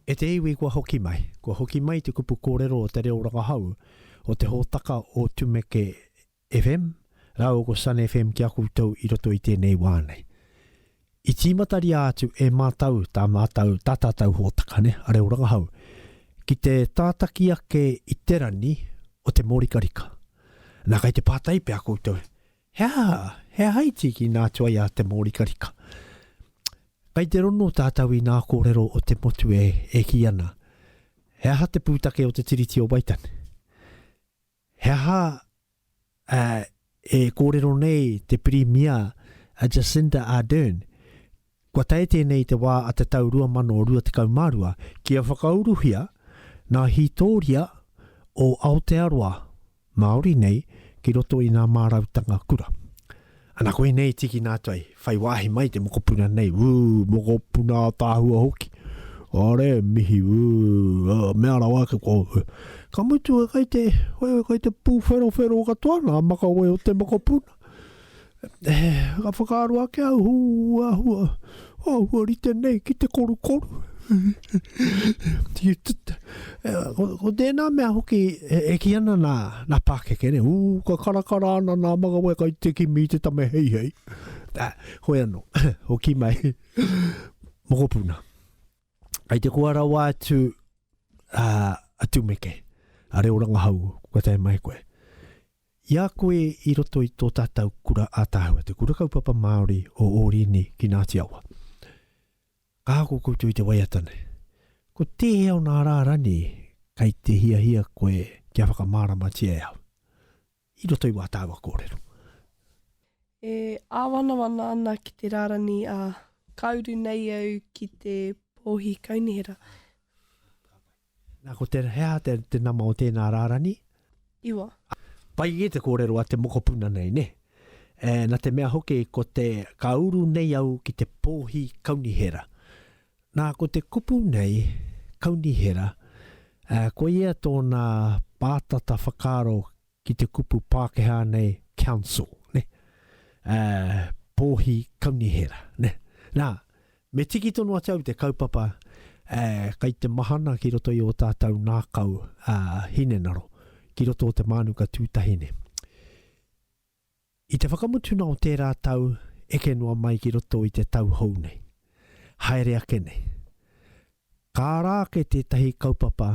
E te iwi kua hoki mai, kua hoki mai te kupu kōrero o te reo rangahau o te hōtaka o Tumeke FM rāua ko Sun FM ki a koutou i roto i tēnei wā nei. I tīmataria atu e mātou tā mātou, tā tātou hōtaka ne, a reo rangahau, ki te tātaki ake i te rangi o te mōrikarika. Nā, kei te pātai pea koutou, He aha, he aha i tīkina atu ai a Te Mōrikarika? Kei te rono tātou i nā kōrero o te motu e, e kī ana, He aha te pūtake o te Tiriti o Waitangi? He aha e kōrero nei te Pirimia a Jacinda Ardern Kua tae tēnei i te wā a te tau 2022 kia whakauruhia ngā hītōria o Aotearoa, Māori nei, ki roto i ngā mārautanga kura. Ana koinei tīkina atu ai, whai wāhi mai te mokopuna nei, ū, mokopuna ataahua hoki, are, mihi, ū, ā, mea rawa ake koa, ū. Ka mutu e kai te, kai te pūwherowhero katoa ngā makawe o te mokopuna. Ka whakaaro ake au, hū, āhua, āhua rite nei ki te korukoru. ko tēnā mea hoki e, e ki ana nā, nā pākeke ne, ū, ka karakara ana nā magawe kai te kimi i te tame hei hei. Tā, koe anō, o ki mai, mokopuna. Ai te kua rawa atu a, a tumeke, a reo rangahau, kua tai mai koe. I a koe i roto i tō tātau kura ātaahua, te Kura Kaupapa Māori o Ōrini ki Ngāti Awa. Ka ako koutou i te waiata nei. Ko tēhea ōna rārani kei te hiahia koe kia whakamāramatia e au, i roto i wā tāua kōrero? E āwanawana ana ki te rārani, ā, ka uru nei au ki te Pōhi Kaunihera. Nā, ko te, he aha te, te nama o tēnā rārani? Iwa. Pai kē te kōrero a te mokopuna nei, nē? E, nā te mea hoki ko te, ka uru nei au ki te pōhi kaunihera. Nā, ko te kupu nei, kaunihera, e, koia tōna pātata whakaaro ki te kupu Pākehā nei council, nē, ā, Pōhi Kaunihera, nē. Nā, me tiki tonu atu au i te kaupapa, ā, kei te mahana ki roto i ō tātou ngākau, ā, hinengaro, ki roto o te mānuka tūtahi nei. I te whakamutuna o tērā tau eke noa mai ki roto i te tau hou nei, haere ake nei, ka ara ake tētahi kaupapa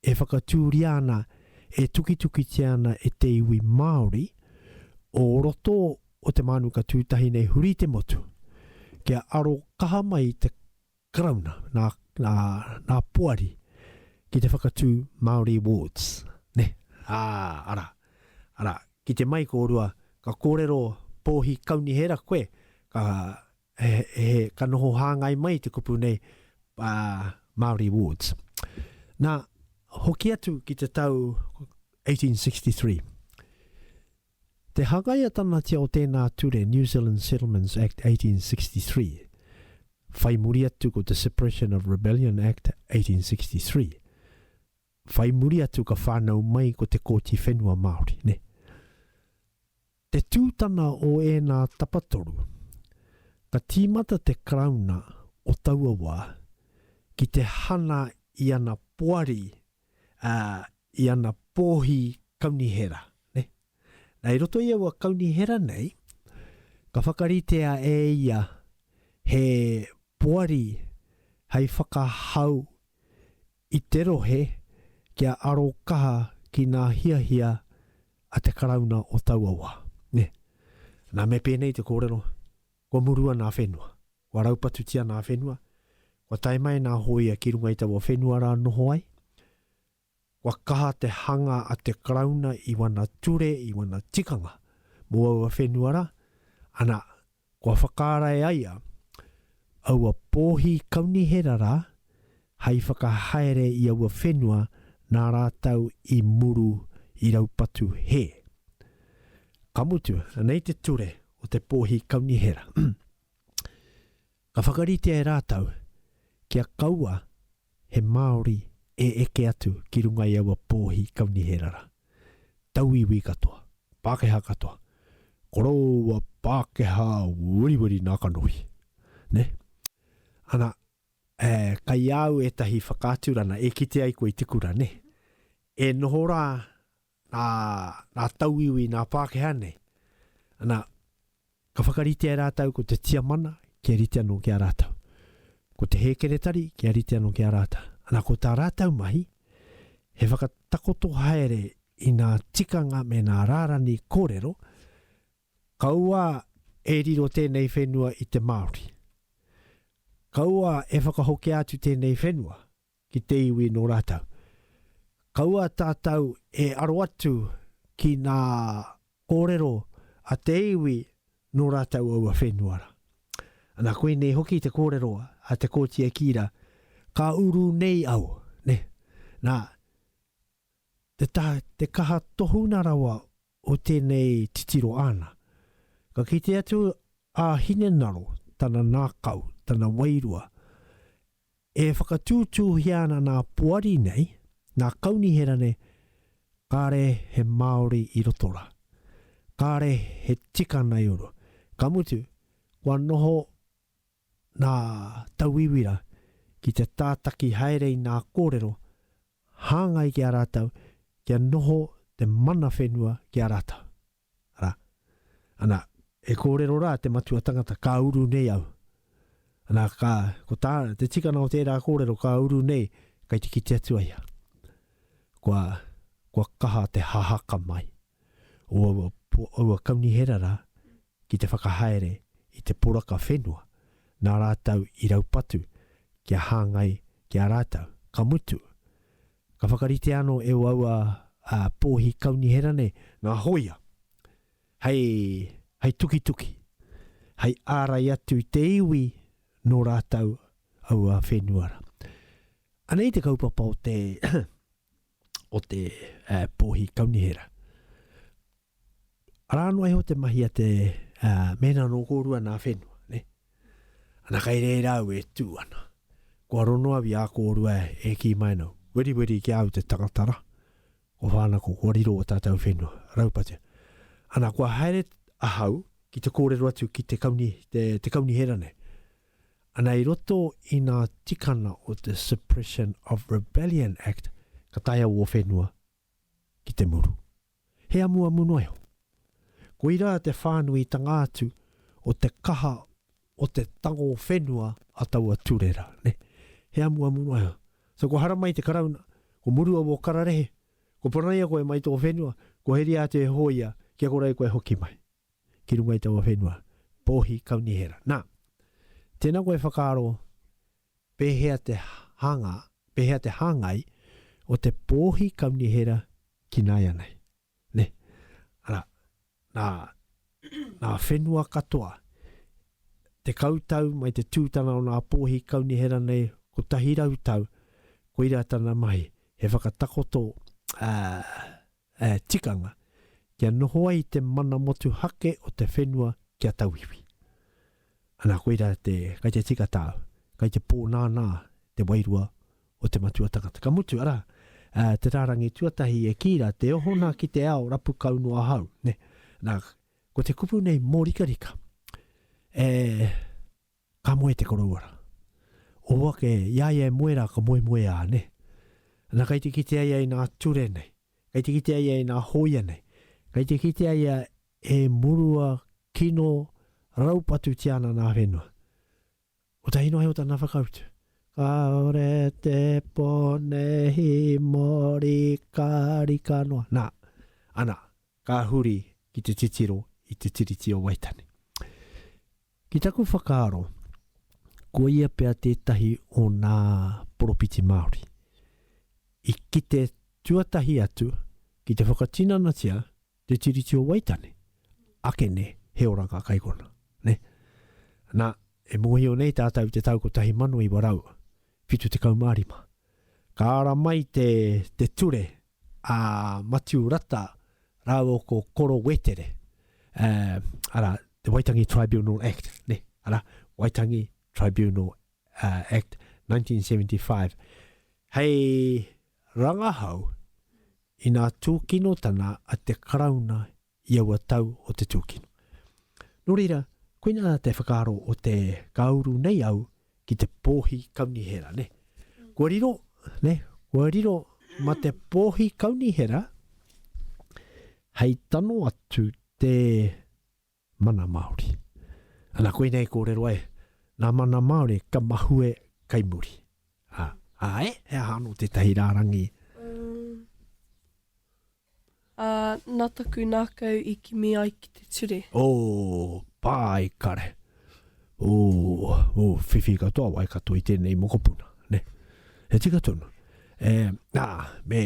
E whakatūria ana, e tukitukitia ana e te iwi Māori, o roto o te mānuka tūtahi nei huri i te motu, kia aro kaha mai i te Karauna, nā, nā, nā Poari, ki te whakatū Māori Awards, nē. Ā, arā, arā, ki te mai kōrua, ka kōrero Pōhi Kaunihera koe, ka, He, he, ka noho hāngai mai te kupu nei, Māori wards. Nā, hoki atu ki te tau 1863. Te hangaiatanatia o tēnā ture, New Zealand Settlements Act 1863, whai muri atu ko te Suppression of Rebellion Act 1863, whai muri atu ka whānau mai ko te Kōti Whenua Māori, nē. Te tūtana o ēnā tapatoru, ka tīmata te Karauna o taua wā ki te hana i ana poari, ā, i ana pōhi kaunihera, nē. Nā, i roto i aua kaunihera nei, ka whakaritea e ia he poari hei whakahau I te rohe, kia aro kaha ki nā hiahia a te Karauna o taua wā. Nē. Nā, me pēnei te kōrero, kua murua nā whenua, kua raupatutia nā whenua, kua tae mai nā hōia ki runga i taua whenua rā noho ai, kua kaha te hanga a te Karauna i wana ture, i wana tikanga mō aua whenua rā, ana, Kua whakaarae ai a. Aua pōhi kaunihera rā hai whakahaere i aua whenua nā rātau i muru i raupatu hē. Ka mutu, anei te ture o te pōhi kaunihera. Ka whakaritea e rātau kia kaua he Māori e eke atu ki runga i aua pōhi kauniherara, tauiwi katoa, Pākehā katoa, koroua Pākehā weriweri nā kanohi, nē? Ana, ē, kai au ētahi whakaaturana e kite ai koe i te kura, nē? E noho rā nā, nā tauiwi, nā Pākehā nei. Ana, ka whakaritea e rātou ko te Tiamana kia rite anō ki a rātou. Ko te Hēkeretari kia rite anō ki a rātou. Ana, ko tā rātou mahi, he whakatakoto haere i ngā tikanga me ngā rārani kōrero, kaua e riro tēnei whenua i te Māori. Kaua e whakahokia atu tēnei whenua ki te iwi nō rātou. Kaua tātou e aro atu ki ngā kōrero a te iwi nō rātou aua whenua rā. Ana, koinei hoki te kōrero a Te Kooti e kī rā, Ka uru nei au, nē. Nā, te, te kaha tohunga rawa o tēnei titiro āna. Ka kite atu a Hinengaro, tana ngākau, tana wairua, e whakatūtūhia ana nā Poari nei, nā Kaunihera nei, kāre he Māori i roto rā. Kāre he tikanga i uru. Ka mutu, kua noho Nā Tauiwira ki te tātaki haere i nā kōrero hāngai ki a rātou kia noho te mana whenua ki a rātou, arā, ana, e kōrero rā te matua tangata, ka uru nei au. Ana, ka, ko tā, te tikana o tērā kōrero, ka uru nei, kei te kite atu a ia. Kua, kua kaha te hahaka mai. o aua, aua kaunihera rā ki te whakahaere i te poraka whenua nā rātou i raupatu kia hāngai ki a rātou. Ka mutu, ka whakaritea anō e aua pōhi kaunihera nei ngā hōia hei, hei tukituki, hei ārai atu i te iwi nō rātou aua whenua rā. Anei te kaupapa o te o te uh, pōhi kaunihera. Arā noa iho te mahi a te uh, mēnā nō kōrua nā whenua, ne? Ana kai reira au e tū ana. Kua rono awi a kōrua e ki mai nau. Weri weri ki au te tangatara. Ko whāna ko kua riro o tātou whenua. Raupatu. Ana kua haere ahau ki te kōrero atu ki te kauni, te, te kaunihera nei. Ana i roto i nā tikana o te Suppression of Rebellion Act ka taea wō whenua ki te muru. He amuamu noa iho. Koirā te whānuitanga atu o te kaha o te tango whenua a taua ture rā, nē. He amuamu noa iho. So kua haramai te Karauna, kua murua wō kararehe, kua panaia koe mai tō whenua, kua heria atu e hōia kia kore koe hoki mai. ki runga i taua whenua, Pōhi Kaunihera. Nā, tēnā koe e whakaaro pēhea te hanga, pēhea te hāngai o te Pōhi Kaunihera ki nāianei. Nē? Arā, nā, nā whenua katoa, tekau tau mai te tūtana o nā Pōhi Kaunihera nei, kotahi rau tau, koirā tana mahi, he whakatakoto, ā, ā, tikanga, kia noho ai te mana motuhake o te whenua ki a tauiwi. Ana koira te, kai te tika tāu, kai te pōnānā te wairua o te matua tangata. Ka mutu, arā, ā, te rārangi tuatahi e kī rā, Te ohona ki te ao, rapu kau noa ahau, nē. Nā, ko te kupu nei mōrikarika, e. Ka moe te koroua ra. O ake, i a ia e moe ra ka moemoe a, ne? Na kei te kitea ia i na ture nei, kei te kitea ia i na hoia nei, kei te kitea ia e murua kino raupatu ti ana na whenua. Kotahi noa iho tana whakautu. Kaore te pone hi mori ka rika noa. Na, ana, ka huri ki te titiro i te Tiriti o Waitani. Ki taku whakaaro, koia pea tētahi o nā poropiti Māori i kite tuatahi atu ki te whakatinanatia te Tiriti o Waitangi. Ake nē, he ora ngā kaikona, nē? Nā, e mōhio nei tātou i te tau 1975, ka ara mai te, te ture a Matiu Rata rāua ko Koro Wetere, ā, arā, te Waitangi Tribunal Act, nē, arā, Waitangi Tribunal, ā, Act 1975, hei rangahau ina tūkinotana a te Karauna i aua tau o te tūkino. Nō reira, koinā te whakaaro o te ka uru nei au ki te pōhi kaunihera, nē. Kua riro, nē, kua riro ma te pōhi kaunihera hei tano atu te mana Māori. Ana koinei kōrero e, nā mana Māori ka mahue kai muri. Ā, ā e, he aha anō tētahi rārangi? Ā, nā taku nākau i kimi ai ki te ture. O Paekare. O, o, whiwhi katoa, Waikato i tēnei mokopuna, nē. He tika tonu. E, ā, me,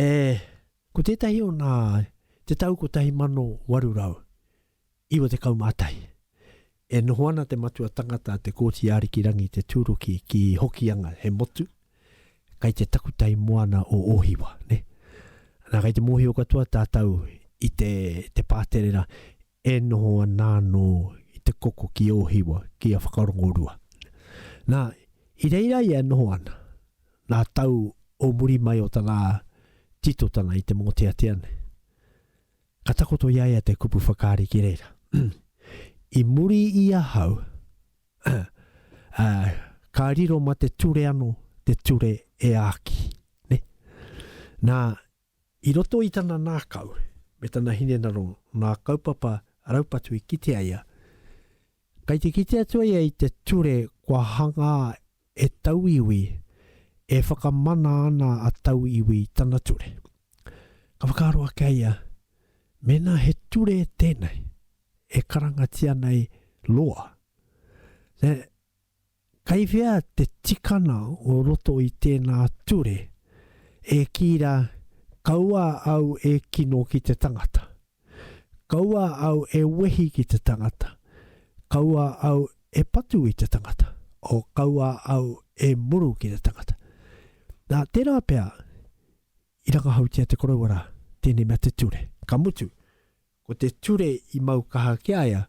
e, ko tētahi o nā, te tau 1800, 91. E noho ana te matua tangata a Te Kooti Arikirangi Te Tūruki ki Hokianga, he motu, kai te takutai moana o Ōhiwa. Na, kai te mōhio katoa tātau i te, te pāterera e noho ana anō i te koko ki Ōhiwa, ki a Whakarongorua. Na, i reira ia e noho ana, nā tau o muri mai o tana titotanga i te mōteatea nei. Ka takoto i a ia te kupu whakaari ki reira, I muri i ahau, ka riro ma te ture ano te ture e aki. Na, i roto i tana nakau, me tana hinengaro, nga kaupapa raupatu i kitea ia, kai te kite atu ia i te ture kua hanga He tauiwi e whakamana ana a Tauiwi i tana ture. Ka whakaaro ake a ia, mēnā he ture tēnei e karangatia nei loa, then kei whea te tikana o roto i tēnā ture e kī rā, Kaua au e kino ki te tangata. Kaua au e wehi ki te tangata, kaua au e patu i te tangata, o kaua au e muru ki te tangata. Na, tērā pea, i rangahautia te koroua rā, tēnei mea te ture. Ka mutu, ko te ture i mau kaha ki a ia,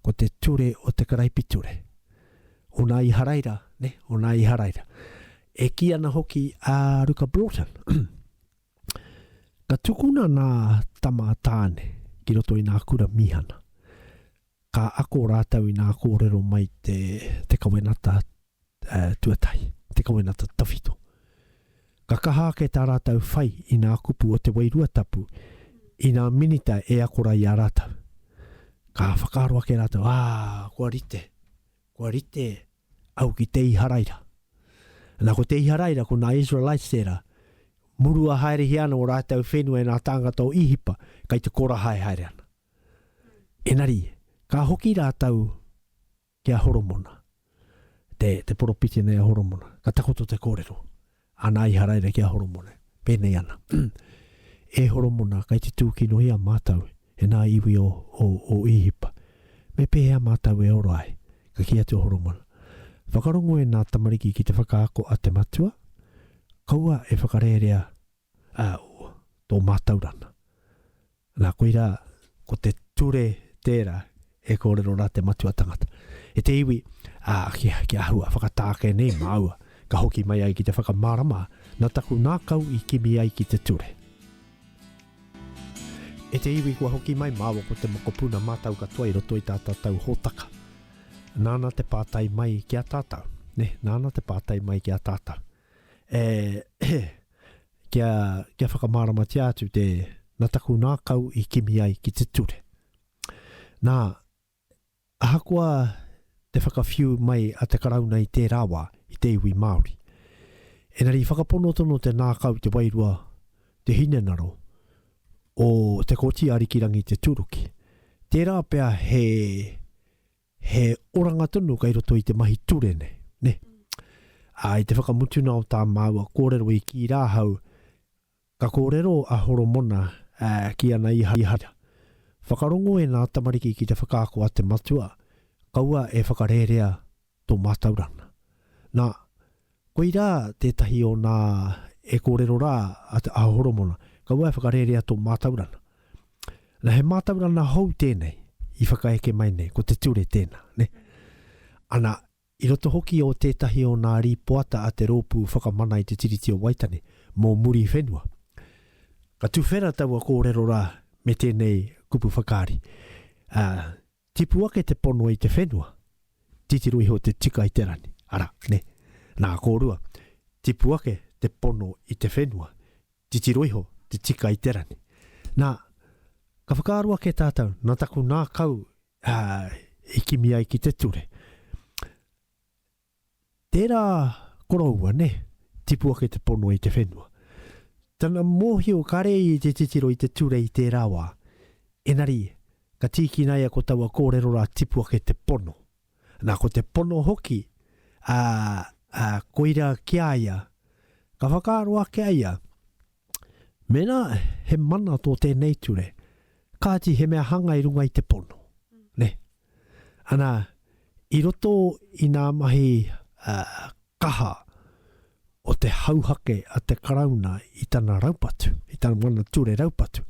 ko te ture o te karaipiture. Ona Iharaira, ne, ona Iharaira. E kī ana hoki a Ruka Broughton, Ka tukuna nā Tama a Tāne ki roto i nā kura mīhana. Ka ako rātou i nā kōrero mai te te kawenata tuatahi, te kawenata tawhito. Ka kaha ake tā rātou whai i nā kupu o te Wairua Tapu i nā minita e akorai i a rātou. Ka whakaaro ake rātou, ā, kua rite, kua rite au ki te Iharaira. Na, ko te Iharaira, ko na Israelites tera, murua haerehia ana o ratou whenua e na tāngata o Ihipa, kai te kora hae haere ana. Enari, ka hoki ratou ki a Horomona, te, te poropiti nei a Horomona, ka takoto te korero. Ana Iharaira ki a Horomona, pēnei ana, E Horomona, kei te tūkinohia mātou e ngā iwi o, o, o Īhipa. Me pēhea mātou e ora ai? Ka kī atu a Horomona, Whakarongo e ngā tamariki ki te whakaako a te Matua, kaua e whakarērea, ā, tō mātauranga. Nā, koirā, ko te ture tērā e kōrero rā te matua tangata. I te iwi, ā, ki, ki ahua, whakatāke nei māua, ka hoki mai ai ki te whakamārama, nā taku ngākau i kimi ai ki te ture. I te iwi kua hoki mai māua ko te mokopuna mātau katoa i roto i tā tātau hōtaka. Nāna te pātai mai ki a tātau, nē, nāna te pātai mai ki a tātau. E, he, kia, kia whakamāramatia atu te, na taku ngākau i kimi ai ki te ture. Na, ahakoa te whakawhiu mai a te Karauna i tērā wā, i te iwi Māori, engari i whakapono tonu te ngākau, te wairua, te hinengaro o Te Kooti Arikirangi Te Tūruki. Tērā pea he, He oranga tonu kei roto i te mahi ture nei, ne? Ā, i te whakamutuna o tā māua kōrero i kī rā ahau, Ka kōrero a Horomona ā, ki ana Iharaira, Whakarongo e nā tamariki ki te whakaako a te Matua, kaua e whakarērea tō mātauranga. Nā, Koirā tētahi o nā e kōrero rā a Te Aho Horomona, kaua e whakarērea tō mātaurana. Na, he mātaurana hou tēnei i whakaeke mai nei, ko te ture tēnā, ne? Ana, i roto hoki o tētahi o nā rīpoata a te Rōpū Whakamana i te Tiriti o Waitangi mō muri whenua. Ka tuwhera taua kōrero rā me tēnei kupu whakaari, ā, Tipu ake te pono i te whenua, titiro iho te tika i te rani. Ara, ne. Na, korua, tipu ake te pono i te whenua, titiro iho te tika i te rani. Na, ka whakaaro ake tatou, na taku nakau i kimi ai ki te ture. Tērā koroua, nē, tipu ake te pono i te whenua. Tana mōhio kare ia i te titiro i te ture i tērā wā. Engari, ka tīkinaia ko taua kōrero rā tipu ake te pono. Nā, ko te pono hoki, ā, ā, koirā ki a ia. Ka whakaaro ake a ia, Mēnā he mana tō tēnei ture, kāti he mea hanga i runga i te pono. Nē. Ana, i roto i nā mahi uh, kaha o te hauhake a te Karauna i tana raupatu, i tana mana ture raupatu,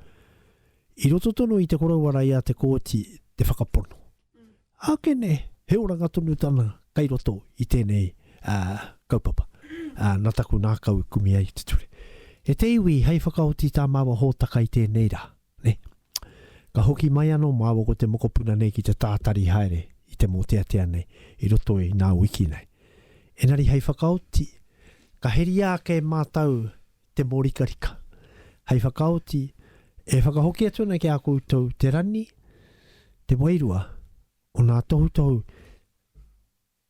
i roto tonu i te koroua raia te kōti te whakapono. Akene, he oranga tonu tana kai roto i tenei kaupapa, na taku ngakau i kume ai te ture. E te iwi, hei whakaoti ta maua hotaka i tenei ra, ne. Ka hoki mai ano maua ko te mokopuna nei ki te tatari haere i te moteatea nei i roto i na wiki nei. Enari hei whakaoti, ka heria ake matou te mōrikarika. Hei whakaoti, e whakahoki atu ana ki a koutou te rani, te wairua o nā tohutohu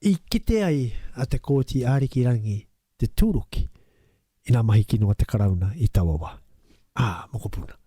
i kite ai a Te Kooti Ariki Rangi te tūruki i nā mahi kino a te Karauna i taua wā. Ā, mokopuna.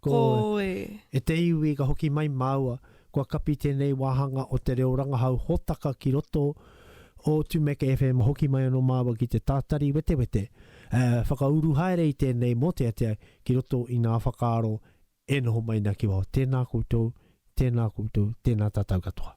Ko e te iwi ka hoki mai māua, kua kapi tēnei wāhanga o te reo rangahau hōtaka ki roto o Tumeke FM hoki mai anō māua ki te tātari wetewete, ā, whakauru haere i tēnei mōteatea ki roto i ngā whakaaro e noho mai nā ki waho. Tēnā koutou, tēnā koutou, tēnā tātou katoa.